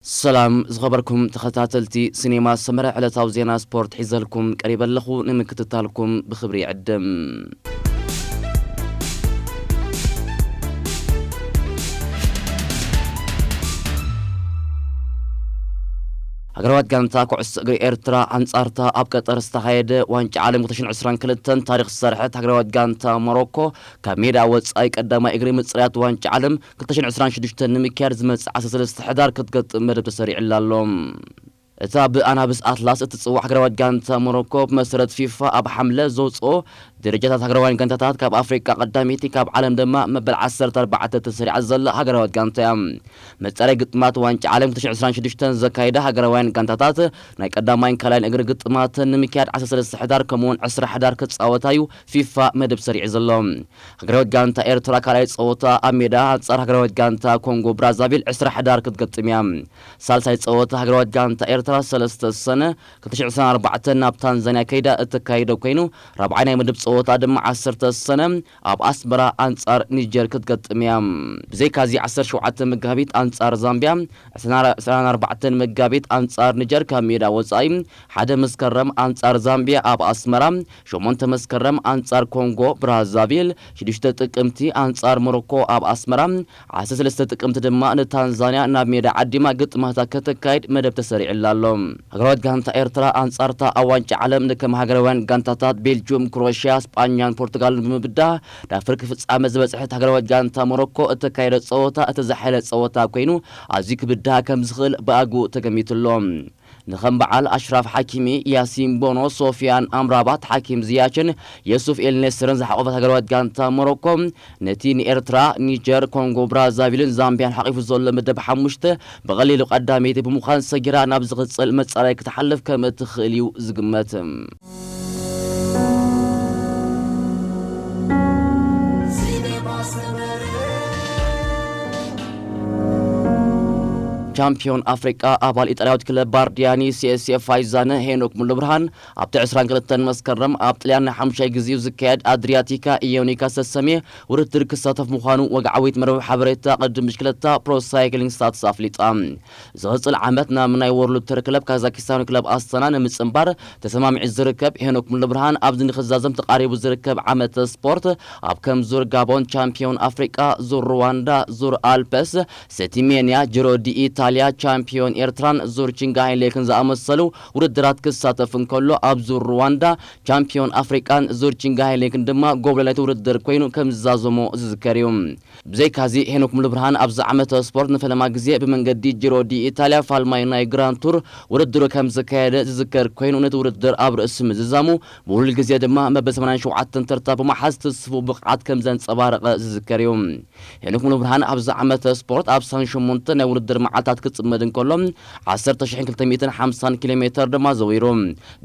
ሰላም ዝኸበርኩም ተኸታተልቲ ሲኔማ ሰመረ ዕለታዊ ዜና ስፖርት ሒዘልኩም ቀሪበ ኣለኹ ንምክትታልኩም ብኽብሪ ይዕድም። ሃገራዊት ጋንታ ኩዕሶ እግሪ ኤርትራ ኣንጻርታ ኣብ ቀጠር ዝተኻየደ ዋንጫ ዓለም 2022 ታሪኽ ዝሰርሐት ሃገራዊት ጋንታ ሞሮኮ ካብ ሜድኣ ወጻኢ ቀዳማይ እግሪ ምጽራያት ዋንጫ ዓለም ክልተ ሽሕን ዕስራን ሽዱሽተን ንምክያድ ዝመጽእ ዓሰርተ ሰለስተ ሕዳር ክትገጥም መደብ ተሰሪዑላ ኣሎ። እታ ብኣናብስ ኣትላስ እትጽዋዕ ሃገራዊት ጋንታ ሞሮኮ ብመሰረት ፊፋ ኣብ ሓምለ ዘውጽኦ ደረጃታት ሃገራውያን ጋንታታት ካብ ኣፍሪቃ ቀዳመይቲ ካብ ዓለም ድማ መበል ዓሰርተ ኣርባዕተ ተሰሪዓ ዘላ ሃገራዊት ጋንታ እያ። መጻረይ ግጥማት ዋንጫ ዓለም ክልተ ሽሕን ዕስራን ሽዱሽተን ዘካይዳ ሃገራውያን ጋንታታት ናይ ቀዳማይን ካልኣይን እግሪ ግጥማተን ንምክያድ ዓሰርተ ሰለስተ ሕዳር ከምኡ'ውን ዕስራ ሕዳር ክጻወታ እዩ ፊፋ መደብ ሰሪዑ ዘሎ። ሃገራዊት ጋንታ ኤርትራ ካልኣይ ጸወታ ኣብ ሜዳ ኣንጻር ሃገራዊት ጋንታ ኮንጎ ብራዛቪል ዕስራ ሕዳር ክትገጥም እያ። ሳልሳይ ጸወታ ሃገራዊት ጋንታ ኤርትራ ሰለስተ ሰነ ክልተ ሽሕ ዕስራን ኣርባዕተን ናብ ታንዛንያ ከይዳ እተካይዶ ኮይኑ ራብዓይ ናይ ምድብ ጸወታ ድማ ዓሰርተ ሰነ ኣብ ኣስመራ ኣንጻር ኒጀር ክትገጥም እያ። ብዘይካዚ ዓሰርተ ሸውዓተ መጋቢት ኣንጻር ዛምብያ ዕስራን ኣርባዕተን መጋቢት ኣንጻር ኒጀር ካብ ሜዳ ወጻኢ ሓደ መስከረም ኣንጻር ዛምቢያ ኣብ ኣስመራ፣ ሸሞንተ መስከረም ኣንጻር ኮንጎ ብራዛቪል፣ ሽዱሽተ ጥቅምቲ ኣንጻር ሞሮኮ ኣብ ኣስመራ፣ ዓሰርተ ሰለስተ ጥቅምቲ ድማ ንታንዛንያ ናብ ሜዳ ዓዲማ ግጥማታ ከተካይድ መደብ ተሰሪዑላ ኣሎ። ሃገራዊት ጋንታ ኤርትራ ኣንጻር'ታ ኣብ ዋንጫ ዓለም ንከም ሃገራውያን ጋንታታት ቤልጁም፣ ክሮኤሽያ፣ ስጳኛን ፖርቱጋልን ብምብዳህ ናብ ፍርቂ ፍጻመ ዝበጽሐት ሃገራዊት ጋንታ ሞሮኮ እተካይዶ ጸወታ እቲ ዝሓየለ ጸወታ ኮይኑ ኣዝዩ ክብዳሃ ከምዝኽእል ብኣግኡ ተገሚቱ'ሎ። ንከም በዓል ኣሽራፍ ሓኪሚ፣ ያሲን ቦኖ፣ ሶፍያን ኣምራባት፣ ሓኪም ዝያችን የሱፍ ኤል ኔስርን ዝሓቖፈት ሃገራዊት ጋንታ ሞሮኮ፣ ነቲ ንኤርትራ፣ ኒጀር፣ ኮንጎ ብራዛቪልን ዛምብያን ሓቚፉ ዘሎ መደብ ሓሙሽተ ብቐሊሉ ቀዳመይቲ ብምዃን ሰጊራ ናብ ዝቕጽል መጻረዪ ክትሓልፍ ከም እትኽእል'ዩ ዝግመት። ቻምፕዮን ኣፍሪቃ ኣባል ኢጣልያዊት ክለብ ባርዲያኒ ሲኤስኤ ፋይዛነ ሄኖክ ሙሉብርሃን ኣብቲ 22 መስከረም ኣብ ጥልያን ናይ ሓሙሻይ ግዜኡ ዝካየድ ኣድሪያቲካ ኢዮኒካ ዝተሰምየ ውድድር ክሳተፍ ምዃኑ ወግዓዊት መርበብ ሓበሬታ ቅድድም ብሽክለታ ፕሮ ሳይክሊንግ ስታትስ ኣፍሊጣ። ዝቕፅል ዓመት ናብ ናይ ዎርልድ ተር ክለብ ካዛኪስታን ክለብ ኣስተና ንምፅንባር ተሰማሚዑ ዝርከብ ሄኖክ ሙሉብርሃን ኣብዚ ንክዛዘም ተቓሪቡ ዝርከብ ዓመተ ስፖርት ኣብ ከም ዙር ጋቦን ቻምፒዮን ኣፍሪቃ ዙር ሩዋንዳ ዙር ኣልፐስ ሰቲ ሜንያ ጅሮ ዲኢታልያ ቻምፒዮን ኤርትራን ዙር ቺንጋሃይ ሌክን ዝኣመሰሉ ውድድራት ክሳተፍ እንከሎ ኣብ ዙር ሩዋንዳ ቻምፒዮን ኣፍሪቃን ዙር ቺንጋሃይ ሌክን ድማ ጎብለል ናይቲ ውድድር ኮይኑ ከምዝዛዘሞ ዝዝከር እዩ። ብዘይካዚ ሄኖክ ሙሉብርሃን ኣብዚ ዓመተ ስፖርት ንፈለማ ግዜ ብመንገዲ ጂሮ ዲ ኢታልያ ፋልማይ ናይ ግራንድ ቱር ውድድሩ ከምዘካየደ ዝዝከር ኮይኑ ነቲ ውድድር ኣብ ርእሲ ምዝዛሙ ብውህሉል ግዜ ድማ መበል ሰማንያን ሸውዓተን ተርታ ብምሓዝ ትስፉው ብቕዓት ከምዘንጸባረቐ ዝዝከር እዩ። ሄኖክ ሙሉብርሃን ኣብዚ ዓመተ ስፖርት ኣብ ሰን ሸሞንተ ናይ ውድድር መዓልታት ክጽመድ እንከሎ ዓሰርተ ሽሕን ክልተ ሚእትን ሓምሳን ኪሎሜተር ድማ ዘዊሩ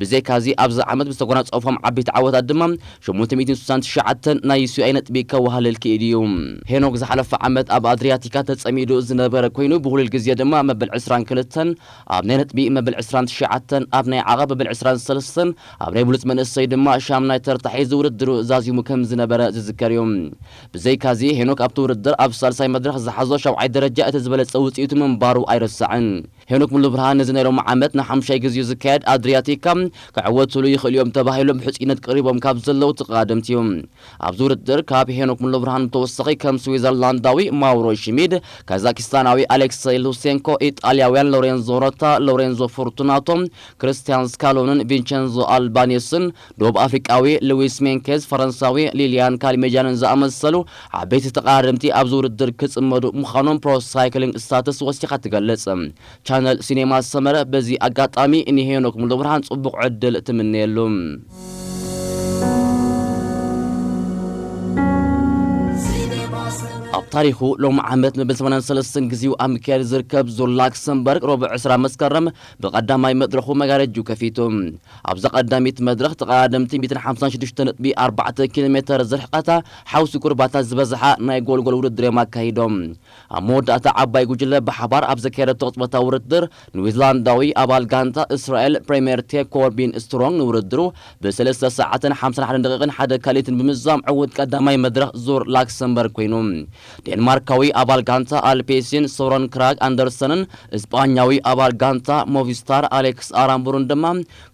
ብዘይካ'ዚ ኣብዚ ዓመት ብዝተጎናጸፎም ዓበይቲ ዓወታት ድማ ሸሞንተ ሚእትን ስሳን ትሽዓተን ናይ ዩሲኣይ ነጥቢ ከዋህልል ክኢሉ እዩ። ሄኖክ ዝሓለፈ ዓመት ኣብ ኣድርያቲካ ተጸሚዱ ዝነበረ ኮይኑ ብውህሉል ግዜ ድማ መበል ዕስራን ክልተን ኣብ ናይ ነጥቢ፣ መበል ዕስራን ትሽዓተን ኣብ ናይ ዓቐብ፣ መበል ዕስራን ሰለስተን ኣብ ናይ ብሉጽ መንእሰይ ድማ ሻምናይ ተርታ ሒዙ ውድድሩ ዛዚሙ ከምዝነበረ ዝዝከር እዩ። ብዘይካ'ዚ ሄኖክ ኣብቲ ውድድር ኣብ ሳልሳይ መድረኽ ዝሓዞ ሻብዓይ ደረጃ እቲ ዝበለጸ ውጽኢቱ ምንባሩ ኣይርሳዕን። ሄኖክ ሙሉብርሃን ነዚ ናይ ሎሚ ዓመት ንሓሙሻይ ግዚኡ ዝካየድ ኣድርያቲካ ክዕወቱሉ ይኽእሉ እዮም ተባሂሎም ብሕፁይነት ቀሪቦም ካብ ዘለዉ ተቐዳደምቲ እዩ። ኣብዚ ውድድር ካብ ሄኖክ ሙሉብርሃን ብተወሳኺ ከም ስዊዘርላንዳዊ ማውሮ ሽሚድ፣ ካዛኪስታናዊ ኣሌክሰይ ሉሴንኮ፣ ኢጣልያውያን ሎሬንዞ ሮታ፣ ሎሬንዞ ፎርቱናቶ፣ ክርስትያን ስካሎንን ቪንቸንዞ ኣልባኔስን፣ ዶብ ኣፍሪቃዊ ልዊስ ሜንኬዝ፣ ፈረንሳዊ ሊልያን ካሊሜጃንን ዝኣመሰሉ ዓበይቲ ተቐዳደምቲ ኣብዚ ውድድር ክጽመዱ ምዃኖም ፕሮ ሳይክሊንግ ስታትስ ወሲኻ ትገልጽ። ቻነል ሲኔማ ሰመረ በዚ ኣጋጣሚ ንሄኖክ ሙሉብርሃን ጽቡቕ ዕድል ትምነየሉ። ኣብ ታሪኹ ሎሚ ዓመት ንብል ሰማንያን ሰለስተን ግዜኡ ኣብ ምክያድ ዝርከብ ዙር ላክሰምበርግ ረቡዕ ዕስራ መስከረም ብቀዳማይ መድረኹ መጋረጁ ከፊቱ። ኣብዛ ቀዳሚት መድረኽ ተቐዳደምቲ ሚእትን ሓምሳን ሽዱሽተ ነጥቢ ኣርባዕተ ኪሎ ሜተር ዝርሕቐታ ሓውሲ ኩርባታት ዝበዝሓ ናይ ጎልጎል ውድድር'ዮም ኣካይዶም። ኣብ መወዳእታ ዓባይ ጉጅለ ብሓባር ኣብ ዘካየደቶ ቅጽበታዊ ውድድር ንዊዝላንዳዊ ኣባል ጋንታ እስራኤል ፕሪሜር ቴክ ኮርቢን ስትሮንግ ንውድድሩ ብ ሰለስተ ሰዓትን ሓምሳን ሓደን ደቒቕን ሓደ ካልኢትን ብምዝዛም ዕውት ቀዳማይ መድረኽ ዙር ላክሰምበርግ ኮይኑ ዴንማርካዊ ኣባል ጋንታ ኣልፔሲን ሶረን ክራግ ኣንደርሰንን እስጳኛዊ ኣባል ጋንታ ሞቪስታር ኣሌክስ ኣራምቡርን ድማ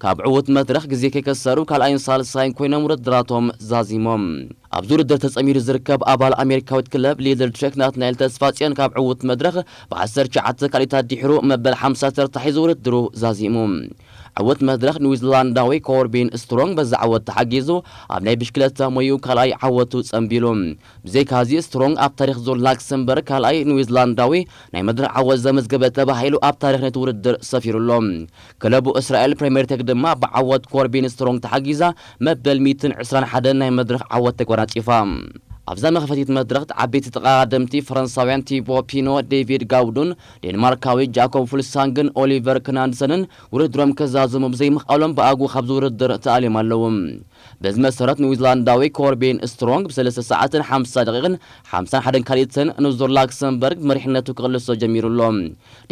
ካብ ዕዉት መድረኽ ግዜ ከይከሰሩ ካልኣይን ሳልሳይን ኮይኖም ውድድራቶም ዛዚሞም። ኣብዚ ውድድር ተጸሚዱ ዝርከብ ኣባል ኣሜሪካዊት ክለብ ሊድል ትሬክ ናትናኤል ተስፋጽዮን ካብ ዕዉት መድረኽ ብዓሰርተ ትሽዓተ ካልኢታት ዲሕሩ መበል ሓምሳ ተርታ ሒዙ ውድድሩ ዛዚሙ። ዕዉት መድረኽ ኒውዚላንዳዊ ኮርቢን ስትሮንግ በዚ ዓወት ተሓጊዙ ኣብ ናይ ብሽክለታ ሞይኡ ካልኣይ ዓወቱ ጸንቢሉ። ብዘይካዚ ስትሮንግ ኣብ ታሪኽ ዙር ላክሰምበርግ ካልኣይ ንዊዝላንዳዊ ናይ መድረኽ ዓወት ዘመዝገበ ተባሂሉ ኣብ ታሪኽ ነቲ ውድድር ሰፊሩ ኣሎ። ክለቡ እስራኤል ፕሬምየርቴግ ድማ ብዓወት ኮርቢን ስትሮንግ ተሓጊዛ መበል ሚእትን ዕስራን ሓደን ናይ መድረኽ ዓወት ተጓናጺፋ። ኣብዛ መኽፈቲት መድረኽት ዓበይቲ ተቐዳደምቲ ፈረንሳውያን ቲቦ ፒኖ፣ ዴቪድ ጋውዱን፣ ዴንማርካዊ ጃኮብ ፉልሳንግን ኦሊቨር ክናንድሰንን ውድድሮም ከዛዝሙ ብዘይምኽኣሎም ብኣግኡ ካብዚ ውድድር ተኣልዮም ኣለዉ። በዚ መሰረት ንዊዝላንዳዊ ኮርቢን ስትሮንግ ብሰለስተ ሰዓትን ሓምሳ ደቒቕን ሓምሳን ሓደን ካልኢትን ንዙር ላክሰምበርግ መሪሕነቱ ክቕልሶ ጀሚሩ ኣሎ።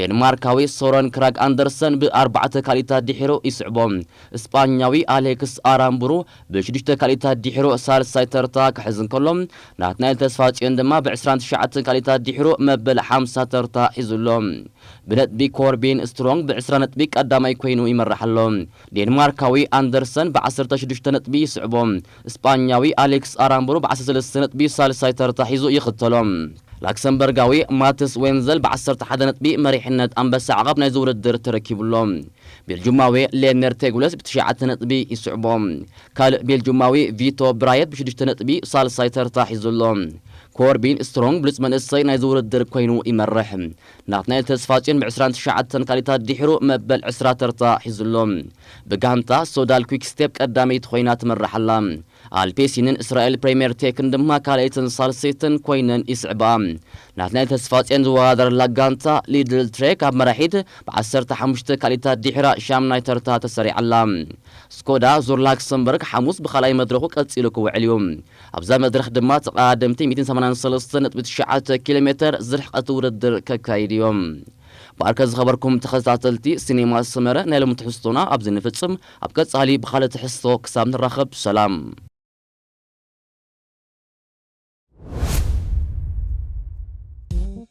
ዴንማርካዊ ሶረን ክራግ ኣንደርሰን ብኣርባዕተ ካልኢታት ድሒሩ ይስዕቦ። ስጳኛዊ ኣሌክስ ኣራምቡሩ ብሽዱሽተ ካልኢታት ድሒሩ ሳልሳይ ተርታ ክሕዝ እንከሎ፣ ናትናኤል ተስፋጽዮን ድማ ብዕስራን ትሽዓተን ካልኢታት ድሒሩ መበል ሓምሳ ተርታ ሒዙ ኣሎ። ብነጥቢ ኮርቢን ስትሮንግ ብዕስራ ነጥቢ ቀዳማይ ኮይኑ ይመርሕ ኣሎ። ዴንማርካዊ ኣንደርሰን ብዓሰርተ ሽዱሽተ ነጥቢ ይስዕቦ። ስጳኛዊ ኣሌክስ ኣራምብሩ ብዓሰርተ ሰለስተ ነጥቢ ሳልሳይ ተርታ ሒዙ ይኽተሎ። ላክሰምበርጋዊ ማትስ ዌንዘል ብዓሰርተ ሓደ ነጥቢ መሪሕነት ኣንበሳ ዓቐብ ናይዚ ውድድር ተረኪቡ ኣሎ። ቤልጁማዊ ሌሜር ቴጉለስ ብትሽዓተ ነጥቢ ይስዕቦ። ካልእ ቤልጁማዊ ቪቶ ብራየት ብሽዱሽተ ነጥቢ ሳልሳይ ተርታ ሒዙ ኣሎ። ኮርቢን ስትሮንግ ብሉጽ መንእሰይ ናይዚ ውድድር ኰይኑ ይመርሕ። ናትናኤል ተስፋጽዮን ብ ዕስራን ትሽዓተን ካልኢታት ዲሕሩ መበል ዕስራ ተርታ ሒዙ ኣሎ። ብጋንታ ሶዳል ኩዊክስቴፕ ቀዳመይቲ ኮይና ትመርሕ ኣላ። ኣልፔሲንን እስራኤል ፕሬምየር ቴክን ድማ ካልኣይትን ሳልሰይትን ኮይነን ይስዕብኣ። ናትናኤል ተስፋጽዮን ዝወዳደረላ ጋንታ ሊድል ትሬክ ኣብ መራሒት ብ ዓሰርተ ሓሙሽተ ካልኢታት ዲሕራ ሻምናይ ተርታ ተሰሪዓ ኣላ። ስኮዳ ዙር ላክሰምበርግ ሓሙስ ብካልኣይ መድረኹ ቀጺሉ ክውዕል እዩ። ኣብዛ መድረኽ ድማ ተቐዳደምቲ ሚእትን ሰማንያን ሰለስተን ነጥቢ ትሽዓተ ኪሎ ሜተር ዝርሕቐት ውድድር ከካይዱ እዮም። ብኣርከ ዝኸበርኩም ተኸታተልቲ ሲኔማ ሰመረ ናይ ሎሚ ትሕዝቶና ኣብዚ ንፍጽም ኣብ ቀጻሊ ብኻልእ ትሕዝቶ ክሳብ ንራኸብ ሰላም።